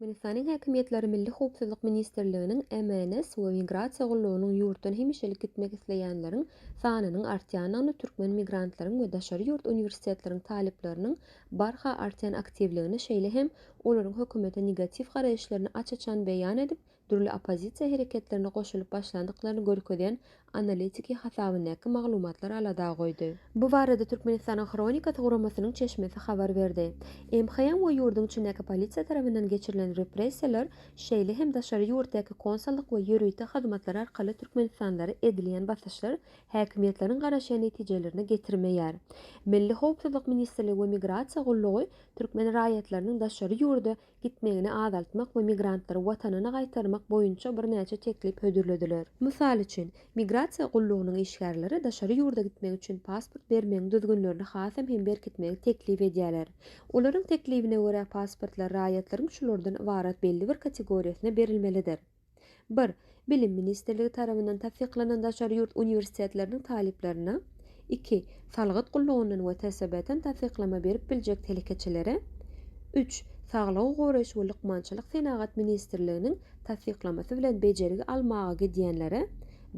Türkmenistanyň häkimiýetleri Milli howpsuzlyk ministrliginiň MNS we Migrasiýa gullugynyň ýurtdan hemişelik gitmek isleýänleriň sanynyň artýandygyny türkmen migrantlaryň we daşary ýurt uniwersitetleriň talyplarynyň barha artýan aktiwligini şeýle hem olaryň hökümete negatiw garaýyşlaryny aç-açan beýan edip dürli oppozisiýa hereketlerine goşulyp başlandyklaryny görkezýän analitiki hasabyndaky maglumatlar alada goýdy. Bu barada Türkmenistanyň Hronikasy guramasynyň çeşmesi habar berdi. MHM we ýurduň içindäki polisiýa tarapyndan geçirilen repressiýalar, şeýle hem daşary ýurtdaky konsullyk we ýörite hyzmatlar arkaly türkmenistanlylara edilýän basyşlar häkimiýetleriň garaşýan netijelerine getirmeýär. Milli howpsuzlyk ministrligi we migrasiýa gullugy türkmen raýatlarynyň daşary ýurda gitmegini azaltmak we migrantlary watanyna gaýtarmak boýunça birnäçe teklip hödürlediler. Mysal üçin, migrasiýa gullugynyň işgärleri daşary ýurda gitmek üçin pasport bermegiň düzgünlerini hasam hem berkitmegi teklip edýärler. Olaryň teklibine görä, pasportlar raýatlaryň şulardan ybarat belli bir kategoriýasyna berilmelidir. Bir, Bilim ministrligi tarabyndan tassyklanan daşary ýurt uniwersitetleriniň talyplaryna, iki, salgyt gullugyndan we TSB-den tassyklama berip biljek telekeçilere, üç, Saglygy goraýyş we lukmançylyk senagat ministrliginiň tassyklamasy bilen bejergi almaga gidýänlere,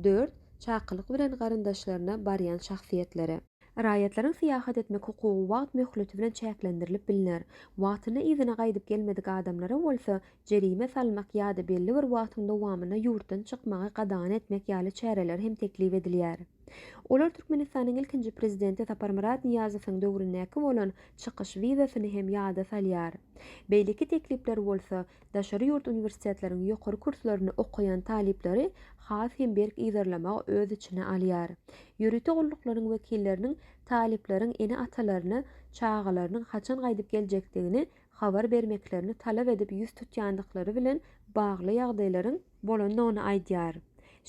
dört, çakylyk bilen garyndaşlaryna barýan şahsyýetlere. Raýatlaryň syýahat etmek hukugy wagt möhleti bilen çäklendirilip bilner. Wagtynda yzyna gaýdyp gelmedik adamlara bolsa, jerime salmak ýa-da belli bir wagtyň dowamynda ýurtdan çykmagy gadagan etmek ýaly çäreler hem teklip edilýär. Olar Türkmenistanyň ilkinji prezidenti Saparmyrat Nyýazowyň döwründäki bolan çykyş wizasyny hem ýada salýar. Beýleki teklipler bolsa, Daşary ýurt uniwersitetleriň ýokary kurslaryny okaýan talyplary has hem berk yzarlamagy öz içine alýar. Ýörite gulluklaryň wekilleriniň talyplaryň ene-atalaryna çagalarynyň haçan gaýdyp geljekdigini habar bermeklerini talap edip ýüz tutýandyklary bilen bagly ýagdaýlaryň bolandygyny aýdýar.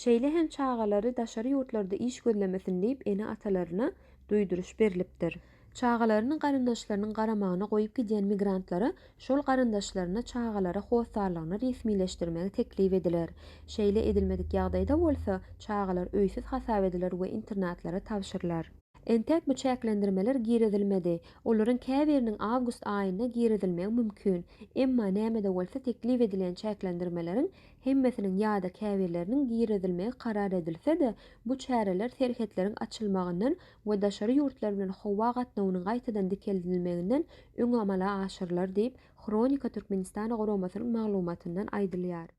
Şeýle hem çagalary daşary ýurtlarda iş gözlemesin diýip ene-atalaryna duýduryş berlipdir. Çagalaryny garyndaşlarynyň garamagyna goýup gidýän migrantlara şol garyndaşlaryna çagalara hossarlygyny resmileşdirmegi teklip ediler. Şeýle edilmedik ýagdaýda bolsa, çagalar öýsüz hasap ediler we internatlara tabşyrylar. Entek bu çäklendirmeler girizilmedi. Olaryň käbiriniň awgust aýynda girizilmegi mümkin. Emma näme-de bolsa teklip edilen çäklendirmeleriň hemmesiniň ýa-da käbirleriniň girizilmegi karar edilse-de, bu çäreler serhetleriň açylmagyndan we daşary ýurtlar bilen howa gatnawynyň gaýtadan dikeldilmeginden öň amala aşyrylar diýip, Hronika Türkmenistana guramasynyň maglumatyndan aýdylýar.